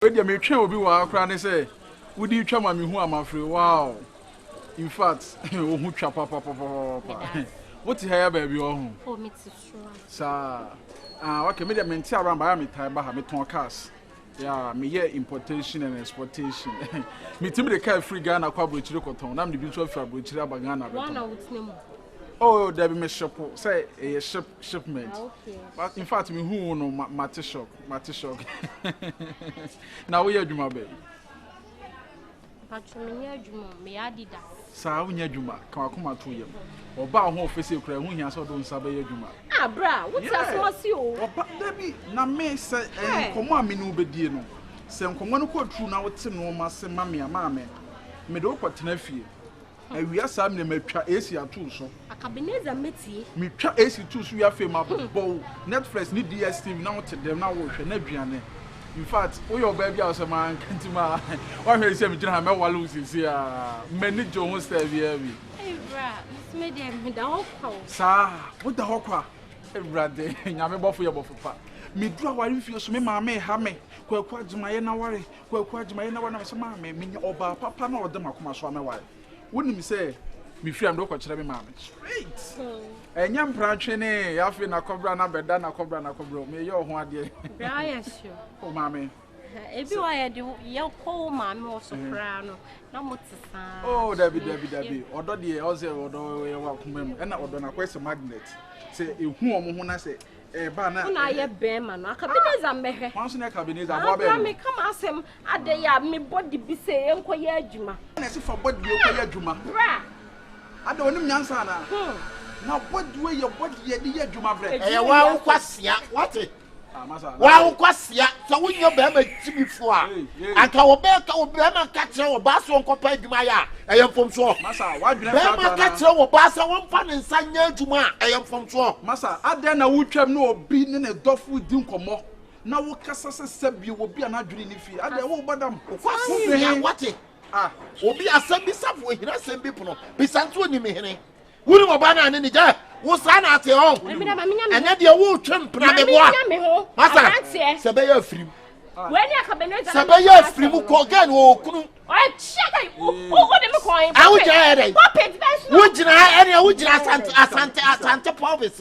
Wei deɛ metwɛn obi wɔ ha koraa ne sɛ wode twa ma mehu a mafre wow infact wo ho twa papapapapa wote ha ya baabi wɔ ho oh, saa ah, okay me deɛ mente around baya metae ba ha metɔn cars yeah, meyɛ importation and exportation metumi de kaa firi Ghana kɔ aburokyire kɔtɔn na mede bi nso afiri aburokyire aba Ghana bɛtɔn oh dabi me ship sɛ ɛyɛ ship shipment ah, okay. but in fact me hu no mate shock mate shock na woyɛ adwuma bɛn patro menyɛ adwuma meyɛ adida saa wonya adwuma ka wakoma to yam ɔbaa ho ɔfɛ sɛ kura ho hia sɛ ɔde nsa bɛyɛ adwuma ah, bra wote asoma si o ɔba dabi na me sɛ eh, nkɔmmɔ a me ne wobɛdie no sɛ nkɔmmɔ no kɔ turu na wote nnoɔma se ma me a maa me mede wokɔtena fie Awia saa mene matwa AC ato so. Akabeneza mɛtie. Metwa AC to so wie afei mabobɔ wo Netflix ne DSTV na wote dɛm na wohwɛ na aduane. In fact, woyɛ ɔbaa bi a ɔsɛ maa nkanti maa woahwɛ ne sɛ megyina ha mɛwale wo sisi a m'ani gye wo ho style biara bi. Ewura, mesome deɛ meda hɔ kwa o. Saa, woda hɔ kwa? Awurade, nyame bɔfo yɛ bɔfo pa. Meduru aware mfie so me maame reha me, Kwaku Agyeman yɛn aware, Kwaku Agyeman na w'anam sɛ maa me menya ɔbaa papa na ɔde m'akoma so amɛware. Wonim sɛ mefiri a mede wokɔkyerɛ me maame. Straight! Ɛnyɛ mpra twene, afei na kɔbra na bɛda na kɔbra na kɔbra. Meyɛ ɔho adeɛ. Bra yɛ sure. O maame. Ebi wa yɛ de yɛ kɔ wo maame wɔ so koraa no na mo te saa. Oh dabi dabi dabi. Ɔdɔ deɛ ɔsɛ ɔdɔ yɛ wɔ akoma mu. Ɛna ɔdɔ na kɔ sɛ magnet. Sɛ ehu wɔn ho na sɛ Ɛba na. Wo na ayɛ bɛɛma no. Akabeneza mmɛhwɛ. Hwan so na Akabeneza aboa bɛɛma no. Bra meka m'asɛm. Adɛn a me body bi se yɛnkɔ yɛ adwuma. Na ɛse fa body wei kɔ yɛ adwuma. Bra. Adɛn onim nyansa anaa. Hmm. Na body wei yɛ body yɛde yɛ adwuma brɛ. Ɛyɛ w'awokwasea wate. Ah masa. W'awokwasea sɛ wonyɛ bɛɛma. Gyimifo a, anka wɔbɛyɛ ka wo barima nka kyerɛ wɔ baa sɛ wɔnkɔpɛ adwuma yɛ a, ɛyɛ mfomsoɔ. Barima nka kyerɛ wɔ baa sɛ wɔmfa ne nsa nyɛ adwuma a, ɛyɛ mfomsoɔ. Masa, adɛn na wotwam ne obi ne ne dɔfo redi nkɔmmɔ na wokasa sɛ sɛbio obi a n'adwene nni fie? Adɛn, wo ba dam? Wokwasi hene, woate? Obi asɛm bisafo ohina asɛm bi pono, bisa nso onim hene. Wonim ɔbaa no a ne ne gya wo saa na ate ɔ ɛnyɛ deɛ woretwe mpena meboa masa sɛ bɛyɛ afirim sɛ bɛyɛ afiri mu kɔ gɛn wɔ okunu awogyaa yɛ dɛ wogyina ɛnea wogyina asante asante asante pɔbes